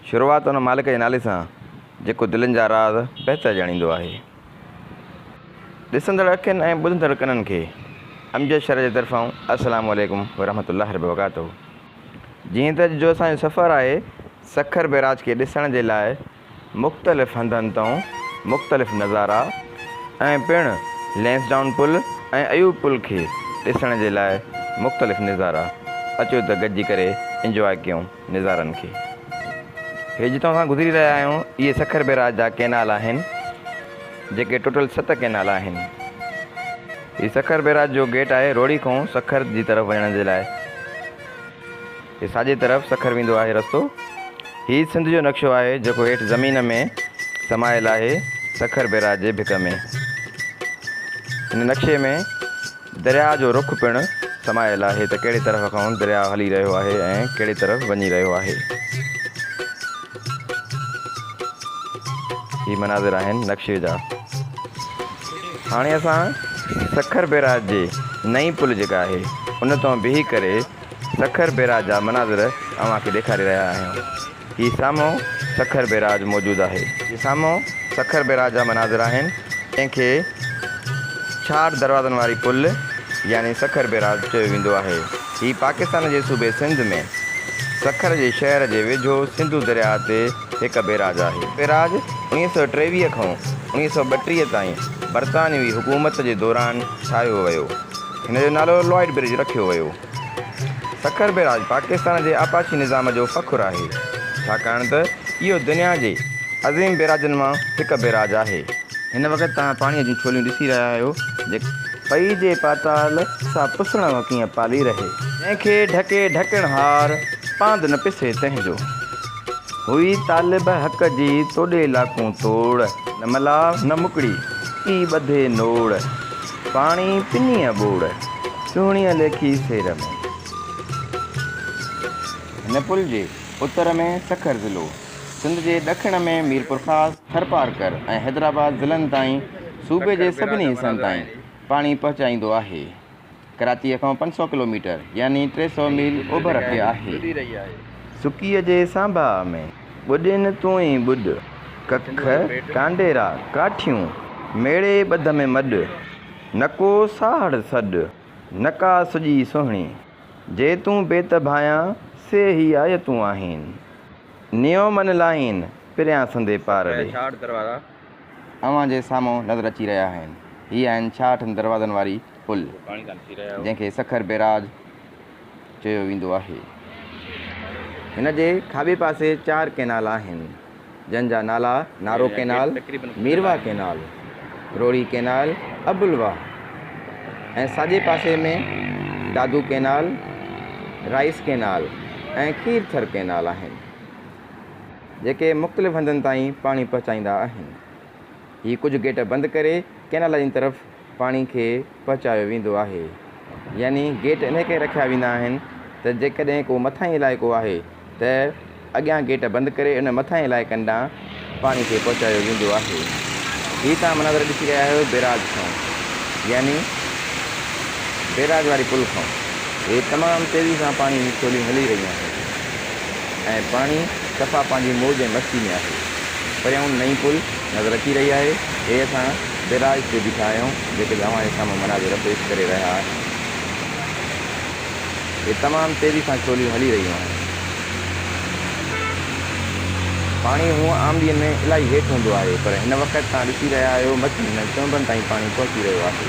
شروعات ان مالڪ جي نالي سان جيڪو دلين جا راز بهتر ڄاڻيندو آهي. ڏسندڙ اکين ۽ ٻڌندڙ ڪنن کي امجد شرح جي طرفان السلام عليڪم ورحمة الله ربرڪاته جيئن ته اڄ جو اسان جو سفر آهي سکر بئراج کي ڏسڻ جي لاء مختلف هنڌن تئون مختلف نظارا ۽ پڻ لئنسڊائون پل ۽ ايوب پل کي ڏسڻ جي لاء مختلف نظارا اچو ته گڏجي ڪري انجواء ڪيون نظارن کي هي جتان اسان گذري رهيا آهيون اهي سکر بيراج جا ڪئنال آهن جيڪي ٽوٽل ست ڪئنال آهن هي سکر بيراج جو گيٽ آهي روهڙي کئون سکر جي طرف وڃڻ جي لاء. تي ساڄي طرف سکر ويندو آهي رستو. هي سنڌ جو نقشو آهي جيڪو هيٺ زمين ۾ سمايل آهي سکر بئراج جي ڀڪ ۾. هن نقشي ۾ درياهه جو رخ پڻ سمايل آهي ته ڪهڙي طرف کان درياهه هلي رهيو آهي ۽ ڪهڙي طرف وڃي رهيو آهي. هي مناظر آهن نقشي جا. هاڻي اسان سکر بئراج جي نئين پل جيڪا آهي ان تان بيهي ڪري سکر بيراج جا مناظر اوهان کي ڏيکاري رهيا آهيون. هي سامهون سکر بيراج موجود آهي. هي سامهون سکر بيراج جا مناظر آهن جنهن کي ڇاڙهه دروازن واري پل يعني سکر بيراج چيو ويندو آهي. هي پاڪستان جي صوبي سنڌ ۾ سکر جي شهر جي ويجهو سنڌو درياء تي هڪ بيراج آهي. هي بيراج اڻيهه سؤ ٽيويهه کان اڻيهه سؤ ٻٽيهه تائين برطانوي حڪومت جي دوران ٺاهيو ويو. هن جو نالو لوائيڊ برج رکيو ويو. سکر بيراج پاڪستان جي آبپاشي نظام جو فخر آهي، ڇاڪاڻ ته اهو دنيا جي عظيم بيراجن مان هڪ بيراج آهي. هن وقت توهان پاڻيء جون ڇوليون ڏسي رهيا آهيو، جيڪي. پئي جي پاتال سا پسڻ ۾ ڪيئن پالي رهي. جنهن کي ڍڪي ڍڪڻ هار، پاند نه پسي تنهن جو. هئي طالب حق جي توڏي لاکون توڙ. نه ملاح نه مڪڙي، ڪي ٻڌي نوڙ. پاڻي پنيء ٻوڙ، سهڻيء ليکي سير ۾. هن پل جي اتر ۾ سکر ضلعو، سنڌ جي ڏکڻ ۾ ميرپورخاص، ٿرپارڪر ۽ حيدرآباد ضلعن تائين صوبي جي سڀني حصن تائين پاڻي پهچائيندو آهي. ڪراچيء کان پنج سؤ ڪلوميٽر يعني ٽي سؤ ميل اوڀر تي آهي. سڪيء جي سانباهه ۾. ٻڏي نه تون ئي ٻڏ، ڪک ڪانڊيرا ڪاٺيون، ميڙي ٻڌ ۾ مڏ، نڪو ساهڙ سڏ، نڪا سڄي سهڻي، جي تون بيت ڀانيان، سي هي آيتون آهين. نيو من لائين، پريان سندي پارڙي. ڇاهٺ دروازا اوهان جي سامهون نظر اچي رهيا آهن. هي آهن ڇاهٺن دروازن واري پل، جنهن کي سکر بيراج چيو ويندو آهي. هن جي کاٻي پاسي چار ڪئنال آهن، جن جا نالا Nara canal, Mirwah canal, Rohri canal, Abulwah ۽ ساڄي پاسي ۾ Dadu canal, rice canal ۽ Kirthar canal آهن، جيڪي مختلف هنڌن تائين پاڻي پهچائيندا آهن. هي ڪجهه گيٽ بند ڪري ڪئنالن جي طرف پاڻي کي پهچايو ويندو آهي يعني گيٽ انهي ڪري رکيا ويندا آهن ته جيڪڏهن ڪو مٿاهين علائقو آهي ته اڳيان گيٽ بند ڪري ان مٿاهين علائقن ڏانهن پاڻي کي پهچايو ويندو آهي هي توهان مناظر ڏسي رهيا آهيو بيراج کان يعني بيراج واري پل کان هي تمام تيزي سان پاڻي جون ڇوليون هلي رهيون آهن ۽ پاڻي صفا پنهنجي موج ۽ مستي ۾ آهي پريائون نئين پل نظر اچي رهي آهي هي اسان بيراج تي بيٺا آهيون جيڪي به اوهان جي سامهون مناظر پيش ڪري رهيا آهن اهي تمام تيزي سان ڇوليون هلي رهيون آهن پاڻي هونء آملين ۾ الائي هيٺ هوندو آهي پر هن وقت تان ڏسي رهيا آهيو مٿي هنن چونبن تائين پاڻي پهچي رهيو آهي.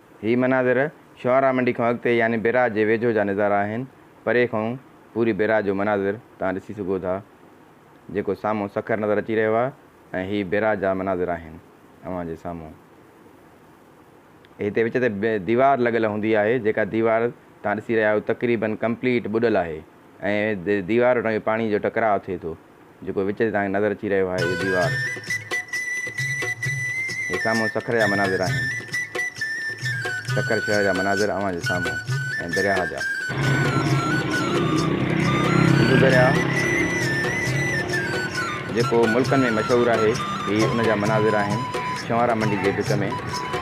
هي مناظر شعراء منڊي کان اڳتي يعني بئراج جي ويجهو جا نظارا آهن. پري کانئون پوري بئراج جو مناظر توهان ڏسي سگهو ٿا. جيڪو سامهون سکر نظر اچي رهيو آهي ۽ هي بئراج جا مناظر آهن اوهان جي سامهون. هتي وچ تي ديوار لڳل هوندي آهي جيڪا ديوار توهان ڏسي رهيا آهيو تقريبن ڪمپليٽ ٻڏل آهي ۽ ديوار وٽان پاڻي جو ٽڪراء ٿئي ٿو. جيڪو وچ تي توهان کي نظر اچي رهيو آهي اهو ديوار هي سامهون سکر جا مناظر آهن سکر شهر جا مناظر اوهان جي سامهون ۽ درياهه جا سنڌو درياهه جيڪو ملڪن ۾ مشهور آهي هي ان جا مناظر آهن ڇوهارا منڊي جي ڀت ۾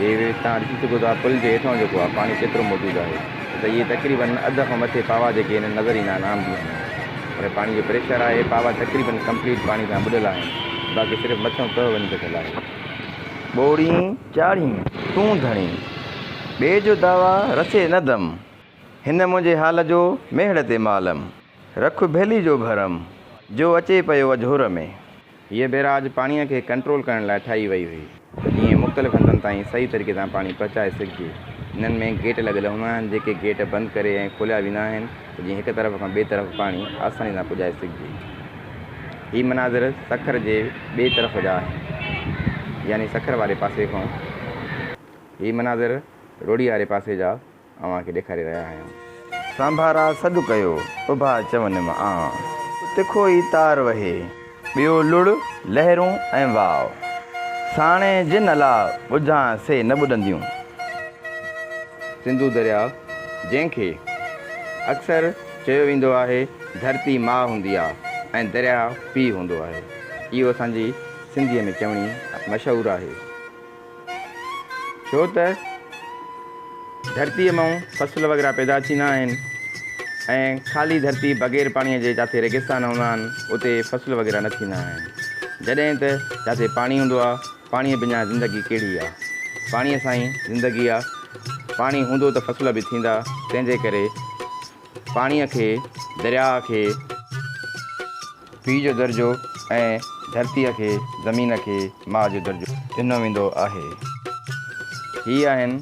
هي تان ڏسي سگهو ٿا پل جي هيٺان جيڪو آهي پاڻي ڪيترو موجود آهي ته اهي تقريبن اڌ کان مٿي پاوا جيڪي هنن نظر ايندا آهن عام ڏينهن ۾ پر پاڻي جو پريشر آهي پاوا تقريبن ڪمپليٽ پاڻي سان ٻڏل آهن باقي صرف مٿيون تهه وڃي بچل آهي ٻوڙين چاڙهين تون ڌڻي ٻئي جو دعويٰ رسي نه دم هن منهنجي حال جو ميهڙ تي معلم رک ڀيلي جو ڀرم جو اچي پيو اجهور ۾ هيء بيراج پاڻيء کي ڪنٽرول ڪرڻ لاء ٺاهي وئي هئي ته جيئن مختلف هنڌن تائين صحيح طريقي سان پاڻي پهچائي سگهجي. هنن ۾ گيٽ لڳل هوندا آهن، جيڪي گيٽ بند ڪري ائين کوليا ويندا آهن ته جيئن هڪ طرف کان ٻئي طرف پاڻي آساني سان پڄائي سگهجي. هي مناظر سکر جي ٻئي طرف جا آهن، يعني سکر واري پاسي کان. هي مناظر روهڙي واري پاسي جا. اوهان کي ڏيکاري رهيا آهيون. سانڀارا سڏ ڪيو، اڀا چون م آن. تکو ئي تار وهي، ٻيو لڙ، لهرون ۽ واء. ساڻي جن الا ٻجهان سي نه ٻڏنديون. سنڌو درياء، جنهن کي اڪثر چيو ويندو آهي، ڌرتي ماء هوندي آ ۽ درياء پيء هوندو آهي. اهو اسان جي سنڌيء ۾ چوڻي مشهور آهي. ڇو ته ڌرتيء مئون فصل وغيره پيدا ٿيندا آهن ۽ خالي ڌرتي بغير پاڻيء جي جاٿي ريگستان هوندا آهن اتي فصل وغيره نه ٿيندا آهن جڏهن ته جاٿي پاڻي هوندو آهي پاڻيء بنا زندگي ڪهڙي آهي پاڻيء سان ئي زندگي آهي پاڻي هوندو ته فصل به ٿيندا تنهنجي ڪري پاڻيء کي درياء کي پيء جو درجو ۽ ڌرتيء کي، زمين کي، ماء جو درجو. ڏنو ويندو آهي. هي آهن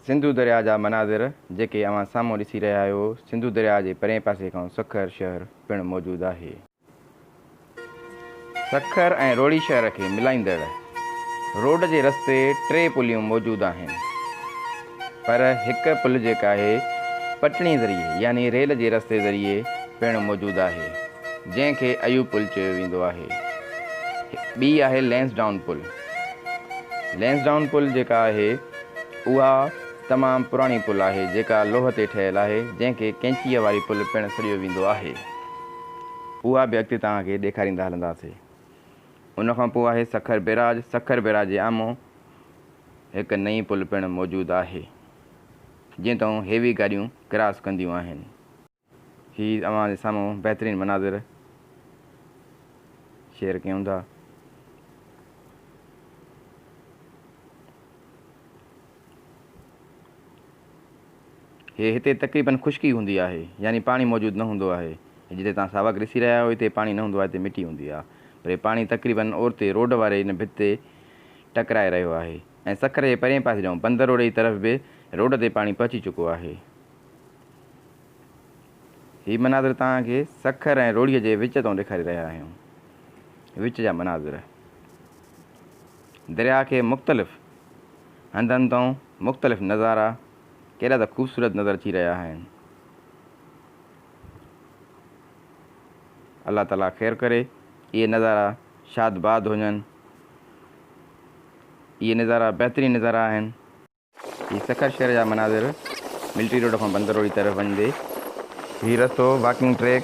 سنڌو درياء جا مناظر جيڪي اوهان سامهون ڏسي رهيا آهيو. سنڌو درياء جي پرئين پاسي کان سکر شهر پڻ موجود آهي. سکر ۽ روهڙي شهر کي ملائيندڙ روڊ جي رستي ٽي پليون موجود آهن پر هڪ پل جيڪا هي پٽڻي ذريعي يعني ريل جي رستي ذريعي پڻ موجود آهي جنهن کي ايوب پل چيو ويندو آهي ٻي آهي لينس ڊائون پل لينس ڊائون پل جيڪا آهي اها تمام پراڻي پل آهي جيڪا لوهه تي ٺهيل آهي جنهن کي ڪينچيء واري پل پڻ سڏيو ويندو آهي. اها به اڳتي توهان کي ڏيکاريندا هلنداسين. ان کان پوء آهي سکر بيراج، سکر بيراج جي آمهون هڪ نئين پل پڻ موجود آهي، جنهن تئون هيوي گاڏيون ڪراس ڪنديون آهن. هي اوهان جي سامهون بهترين مناظر شيئر ڪيون ٿا. هي هتي تقريبن خشڪي هوندي آهي يعني پاڻي موجود نه هوندو آهي هي جتي توهان ساوڪ رسي رهيا آهيو هتي پاڻي نه هوندو آهي هتي مٽي هوندي آهي پر هي پاڻي تقريبن اورتي روڊ واري ان ڀت تي ٽڪرائي رهيو آهي ۽ سکر جي پرين پاسي ڏانهن بندر روڊ جي طرف به روڊ تي پاڻي پهچي چڪو آهي هي مناظر توهان کي سکر ۽ روڙهي جي وچ تان ڏيکاري رهيا آهيون وچ جا مناظر درياء کي مختلف هنڌن تئون مختلف نظارا ڪيڏا ته خوبصورت نظر اچي رهيا آهن. الله تعاليٰ خير ڪري اهي نظارا شاد باد هجن. اهي نظارا بهترين نظارا آهن. هي سکر شهر جا مناظر ملٽري روڊ کان بندر روڊ جي طرف وڃندي. هي رستو واڪنگ ٽريڪ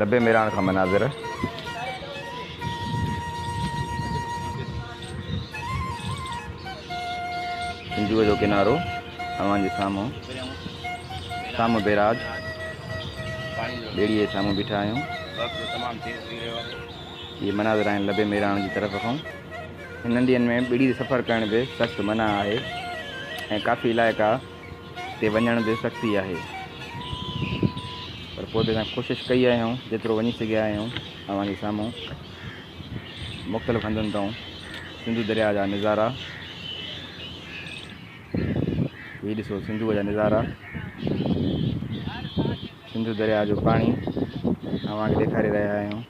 لبي ميراڻ کان مناظر. سنڌوء جو ڪنارو اوهان جي سامهون. سامهون بيراج. ٻيڙيء جي سامهون بيٺا آهيون. اهي مناظر آهن لبي ميراڻ جي طرف کان. هنن ڏينهن ۾ ٻيڙي تي سفر ڪرڻ به سخت منع آهي ۽ ڪافي علائقا تي وڃڻ به سختي آهي پر پوء به اسان ڪوشش ڪئي آهي آهيون جيترو وڃي سگهيا آهيون اوهان جي سامهون مختلف هنڌن تائون سنڌو درياء جا نظارا هي ڏسو سنڌوء جا نظارا سنڌو درياء جو پاڻي اوهان کي ڏيکاري رهيا آهيون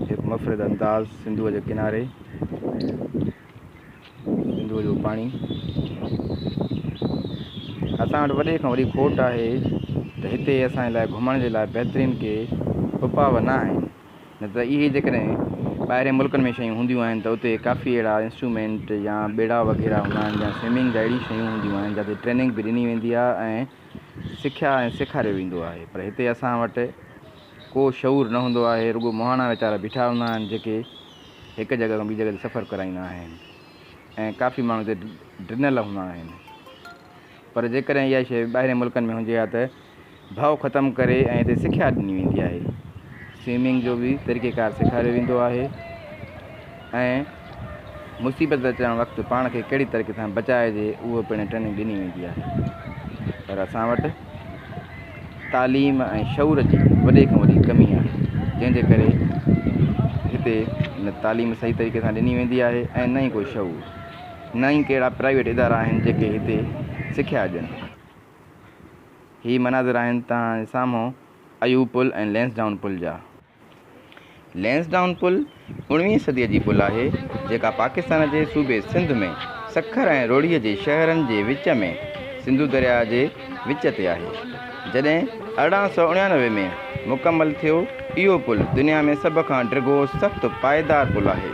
هڪ مفرد انداز سنڌوء جي ڪناري سنڌوء جو پاڻي اسان وٽ وڏي کان وڏي کوٽ آهي ته هتي اسان جي لاء گهمڻ جي لاء بهترين ڪي اپاء نه آهن نه ته اهي جيڪڏهن ٻاهرين ملڪن ۾ شيون هونديون آهن ته اتي ڪافي اهڙا انسٽرومينٽ يا ٻيڙا وغيره هوندا آهن يا سوئمنگ جا اهڙي شيون هونديون آهن جاتي ٽريننگ به ڏني ويندي آهي ۽ سکيا ۽ سيکاريو ويندو آهي پر هتي اسان وٽ ڪو شعور نه هوندو آهي، رڳو مهاڻا ويچارا بيٺا هوندا آهن جيڪي هڪ جڳهه کان ٻي جڳهه تي سفر ڪرائيندا آهن ۽ ڪافي ماڻهو هتي ڊنل هوندا آهن پر جيڪڏهن اها شيء ٻاهرين ملڪن ۾ هجي ها ته ڀؤ ختم ڪري ۽ هتي سکيا ڏني ويندي آهي، سوئمنگ جو به طريقيڪار سيکاريو ويندو آهي. ۽ مصيبت اچڻ وقت پاڻ کي ڪهڙي طريقي سان بچائجي اهو پڻ ٽريننگ ڏني ويندي آهي پر اسان وٽ تعليم ۽ شعور جي وڏي کان وڏي ڪمي آهي جنهن جي ڪري هتي نه تعليم صحيح طريقي سان ڏني ويندي آهي ۽ نه ئي ڪو شعور نه ئي ڪهڙا پرائيويٽ ادارا آهن جيڪي هتي سکيا ڏين هي مناظر آهن توهان جي سامهون ايوب پل ۽ لينس ڊائون پل جا لينسڊائون پل اوڻويهين صديء جي پل آهي، جيڪا پاڪستان جي صوبي سنڌ ۾ سکر ۽ روهڙيء جي شهرن جي وچ ۾ سنڌو درياء جي وچ تي آهي. جڏهن ارڙهن سؤ اڻيانوي ۾ مڪمل ٿيو، اهو پل دنيا ۾ سڀ کان ڊگهو سخت پائيدار پل آهي.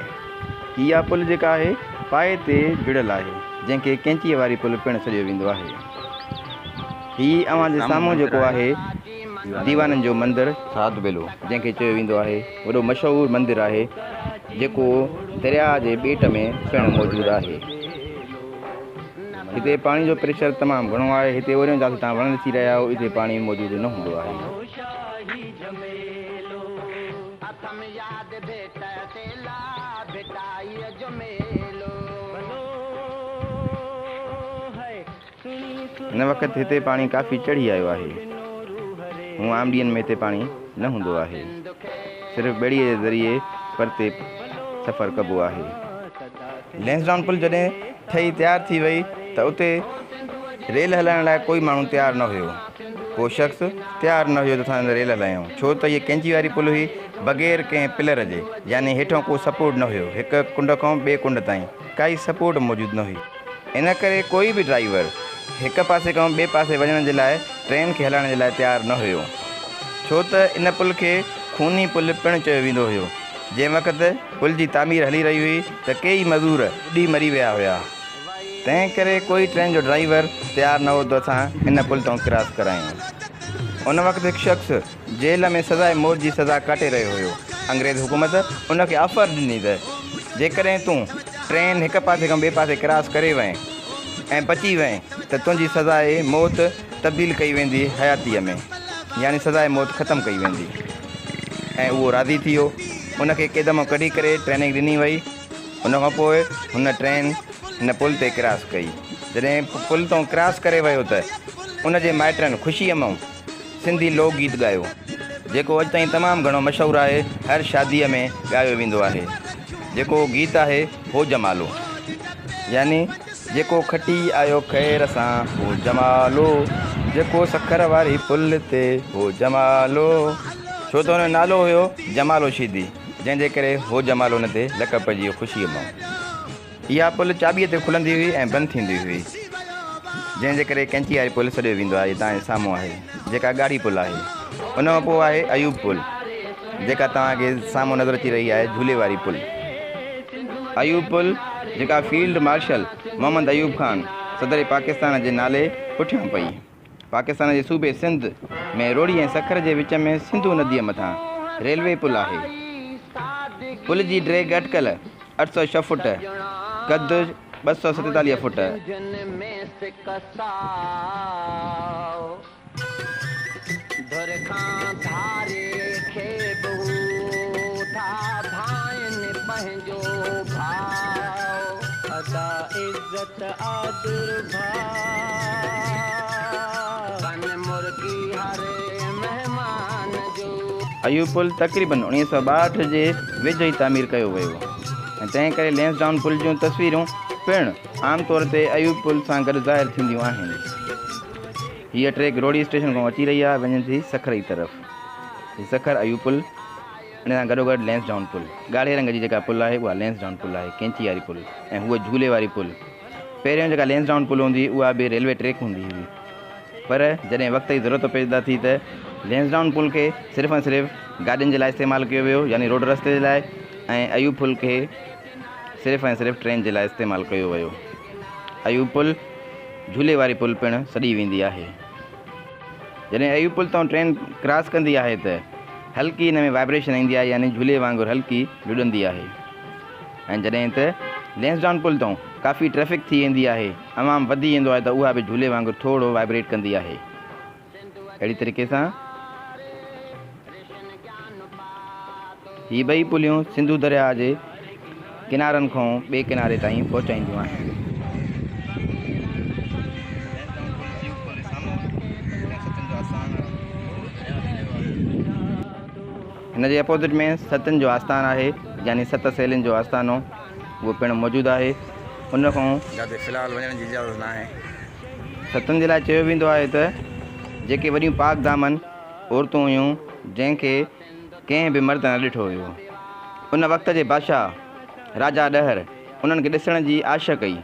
هي اها پل جيڪا آهي پائي تي جڙيل آهي، جنهن کي ڪئنچيء واري پل پڻ سڏيو ويندو آهي. هي اوهان جي سامهون جيڪو آهي. ديوانن جو مندر ساڌ بيلو جنهن کي چيو ويندو آهي وڏو مشهور مندر آهي جيڪو درياء جي ٻيٽ ۾ پڻ موجود آهي. هتي پاڻي جو پريشر تمام گهڻو آهي. هتي اوريون جاٿي تان وڻ ڏسي رهيا آهيو اتي پاڻي موجود نه هوندو آهي. هن وقت هتي پاڻي ڪافي چڙهي آيو آهي. هونء عام ڏينهن ۾ هتي پاڻي نه هوندو آهي. صرف ٻيڙيء جي ذريعي پرتي سفر ڪبو آهي. لينسڊائون پل جڏهن ٺهي تيار ٿي وئي ته اتي ريل هلائڻ لاء ڪوئي ماڻهو تيار نه هيو. ڪو شخص تيار نه هيو ته اسان ريل هلايون. ڇو ته هيء ڪينچي واري پل هئي، بغير ڪنهن پلر جي، يعني هيٺئون ڪو سپورٽ نه هيو. هڪ ڪنڊ کان ٻئي ڪنڊ تائين ڪائي سپورٽ موجود نه هئي. ان ڪري ڪوئي به ڊرائيور هڪ پاسي کان ٻئي پاسي وڃڻ جي لاء ٽرين کي هلائڻ جي لاء تيار نه هيو. ڇو ته ان پل کي خوني پل پڻ چيو ويندو هيو. جنهن وقت پل جي تعمير هلي رهي هئي ته ڪيئي مزور ٻڏي مري ويا هيا. تنهن ڪري ڪوئي ٽرين جو ڊرائيور تيار نه هو ته اسان ان پل تان ڪراس ڪرايون. ان وقت هڪ شخص. جيل ۾ سزاء موت جي سزا ڪاٽي رهيو هيو. انگريز حڪومت ان کي آفر ڏني ته جيڪڏهن تون ٽرين هڪ پاسي کان ٻئي پاسي ڪراس ڪري وئين ۽ بچي وئين ته تنهنجي سزاء موت تبديل ڪئي ويندي حياتيء ۾ يعني سزاء موت ختم ڪئي ويندي ۽ اهو راضي ٿي ويو. ان کي قيد مان ڪڍي ڪري ٽريننگ ڏني وئي. ان کان پوء هن ٽرين هن پل تي ڪراس ڪئي. جڏهن پل تان ڪراس ڪري ويو ته ان جي مائٽن خوشيء مان. سنڌي لوڪ گيت ڳايو جيڪو اڄ تائين تمام گهڻو مشهور آهي هر شادي ۾ ڳايو ويندو آهي جيڪو گيت آهي هو جمالو يعني جيڪو کٽي آيو خير سان هو جمالو جيڪو سکر واري پل تي هو جمالو ڇو ته هن نالو هيو جمالو شيدي جنهن جي ڪري هو جمالو هن تي لقب پئجي ويو خوشي مئو اها پل چاٻيء تي کلندي هئي ۽ بند ٿيندي هئي، جنهن جي ڪري ڪئنچي واري پل سڏيو ويندو آهي، جتان هي سامهون آهي، جيڪا ڳاڙهي پل آهي. ان کان پوء آهي ايوب پل، جيڪا توهان کي سامهون نظر اچي رهي آهي، جهولي واري پل. ايوب پل، جيڪا فيلڊ مارشل محمد ايوب خان، صدر پاڪستان جي نالي پٺيان پئي. پاڪستان جي صوبي سنڌ ۾ روھڙي ۽ سکر جي وچ ۾ سنڌو نديء مٿان ريلوي پل آھي. پل جي ڊيگهه اٽڪل اٺ سؤ ڇهه فوٽ، قد ٻه سؤ ستيتاليهه فوٽ. جو ڀاء ادا عزت آدر ڀاء. بن مرگي هر مهمان جو. اهو پل تقريباً اوڻيهه سؤ ٻاهٺ جي ويجهو ئي تعمير ڪيو ويو هو ۽ تنهن ڪري لينسڊائون پل جون تصويرون پڻ عام طور تي اهو پل سان گڏ ظاهر ٿينديون آهن. هيء ٽريڪ روهڙي اسٽيشن کان اچي رهي آهي ۽ وڃي ٿي سکر جي طرف. هي سکر اهو پل. ان سان گڏوگڏ لئنسڊائون پل، ڳاڙهي رنگ جي جيڪا پل آهي اها لئنسڊائون پل آهي، ڪئنچي واري پل ۽ هوء جهولي واري پل. پهريون جيڪا لئنسڊائون پل هوندي هئي اها به ريلوي ٽريڪ هوندي هئي پر جڏهن وقت جي ضرورت پيدا ٿي ته لئنسڊائون پل کي صرف ۽ صرف گاڏين جي لاء استعمال ڪيو ويو يعني روڊ رستي جي لاء ۽ ايوب پل کي صرف ۽ صرف ٽرين جي لاء استعمال ڪيو ويو. ايوب پل جهولي واري پل پڻ سڏي ويندي آهي. جڏهن اهي پل تان ٽرين ڪراس ڪندي آهي ته هلڪي ان ۾ وائبريشن ايندي آهي يعني جهولي وانگر هلڪي ڊڏندي آهي ۽ جڏهن ته لينسڊان پل تان ڪافي ٽريفڪ ٿي ويندي آهي عوام وڌي ويندو آهي ته اها به جهولي وانگر ٿورڙو وائبريٽ ڪندي آهي اهڙي طريقي سان هي ٻئي پليون سنڌو درياهه جي ڪنارن کان ٻئي ڪناري تائين پهچائينديون آهن. هن جي اپوزٽ ۾ ستن جو آستان آهي يعني ست سهيلين جو آستانو اهو پڻ موجود آهي. ان کان جاتي في الحال وڃڻ جي اجازت ناهي. ستن جي لاء چيو ويندو آهي ته جيڪي وڏيون پاڪ دامن. عورتون هيون جنهن کي ڪنهن به مرد نه ڏٺو هيو. ان وقت جي بادشاهه راجا ڏهر انهن کي ڏسڻ جي آش ڪئي.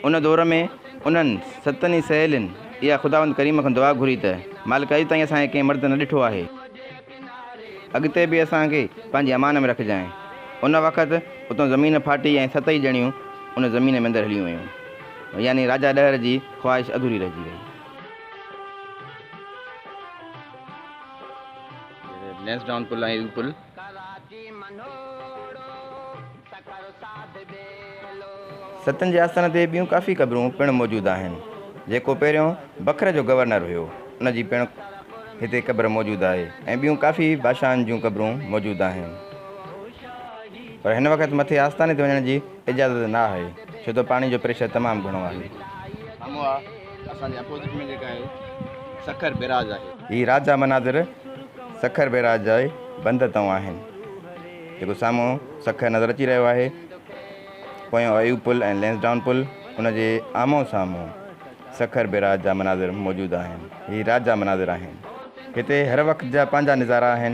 ان دور ۾ انهن ستن ئي سهيلين اها خداوند ڪريم کان دعا گهري ته مالڪ اڄ تائين اسان کي ڪنهن مرد نه ڏٺو آهي. اڳتي به اسان کي پنهنجي امان ۾ رکجانء. ان وقت اتان زمين ڦاٽي ۽ ست ئي ڄڻيون ان زمين ۾ اندر هليون ويون. يعني راجا ڏهر جي خواهش اڌوري رهجي وئي. لينسڊائون پل ۽ ايو پل. ستن جي آستان تي ٻيون ڪافي قبرون پڻ موجود آهن. جيڪو پهريون بکر جو گورنر هيو ان جي پڻ هتي قبر موجود آهي ۽ ٻيون ڪافي بادشاهن جون قبرون موجود آهن. پر هن وقت مٿي آستاني تي وڃڻ جي اجازت نه آهي ڇو ته پاڻي جو پريشر تمام گهڻو آهي. اسان جي اپوزٽ ۾ جيڪا آهي سکر بيراج آهي. هي راجا مناظر سکر بيراج جا ئي بند تئون آهن. جيڪو سامهون سکر نظر اچي رهيو آهي. پويون ايوب پل ۽ لينس ڊائون پل ان جي آمهون سامهون سکر بيراج جا مناظر موجود آهن. هي راجا مناظر آهن. هتي هر وقت جا پنهنجا نظارا آهن.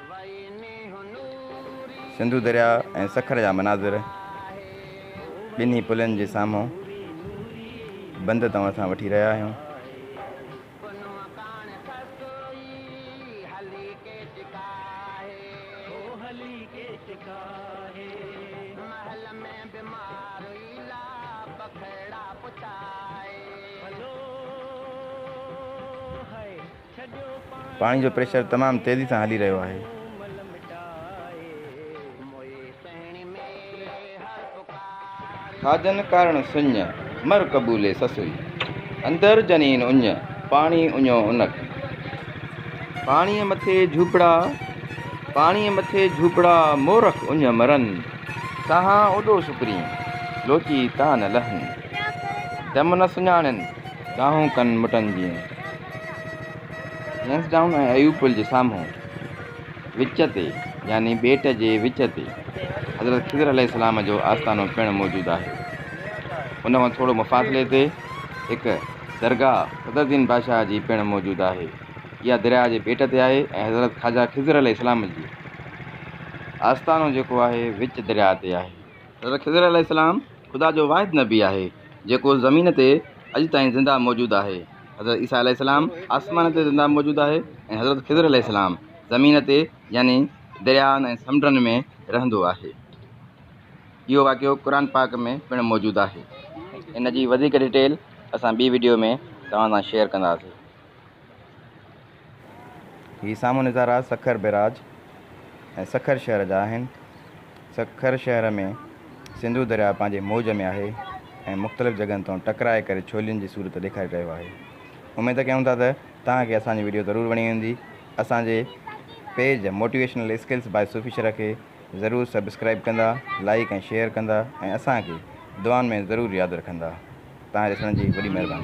سنڌو درياء ۽ سکر جا مناظر ٻنهي پلن جي سامهون بند توهان سان وٺي رهيا آهيون پاڻي جو پريشر تمام تيزي سان هلي رهيو آهي. ٿا جن ڪارڻ سڃ، مر قبولي سسئي. اندر جنين اڃ، پاڻي اڃو انڪ. پاڻيء مٿي جهوپڙا، پاڻيء مٿي جهوپڙا، مورک اڃ مرن. ساهان اوڏو سڪرين، لوچي تان نه لهن. دم نه سڃاڻين. ڏاهون ڪن مٽن جيئن. لينس ڊائون ۽ ايوب پل جي سامهون وچ تي يعني ٻيٽ جي وچ تي حضرت خضر عليه السلام جو آستانو پڻ موجود آهي. ان کان ٿورو مفاصلي تي هڪ درگاهه صدر الدين بادشاهه جي پڻ موجود آهي. اها درياهه جي ٻيٽ تي آهي ۽ حضرت خواجه خضر عليه السلام جي آستانو جيڪو آهي وچ درياهه تي آهي. حضرت خضر عليه السلام خدا جو واحد نبي آهي جيڪو زمين تي اڄ تائين زنده موجود آهي حضرت عيسيٰ عليه السلام آسمان تي زنده موجود آهي ۽ حضرت خضر عليه السلام زمين تي يعني دريائن ۽ سمنڊن ۾ رهندو آهي اهو واقعو قرآن پاڪ ۾ پڻ موجود آهي ان جي وڌيڪ ڊيٽيل اسان ٻي وڊيو ۾ توهان سان شيئر ڪنداسين هي سامهون نظارا سکر بئراج ۽ سکر شهر جا آهن. سکر شهر ۾ سنڌو درياء پنهنجي موج ۾ آهي ۽ مختلف جڳهن تان ٽڪرائي ڪري ڇولين جي صورت ڏيکاري رهيو آهي. اميد ڪيون ٿا ته توهان کي اسان جي وڊيو ضرور وڻي هوندي. اسان جي page motivational skills by Sufi Sharah کي ضرور سبسڪرائيب ڪندا، لائيڪ ۽ شيئر ڪندا ۽ اسان کي دعائن ۾ ضرور ياد رکندا. توهان جي ڏسڻ جي وڏي مهرباني.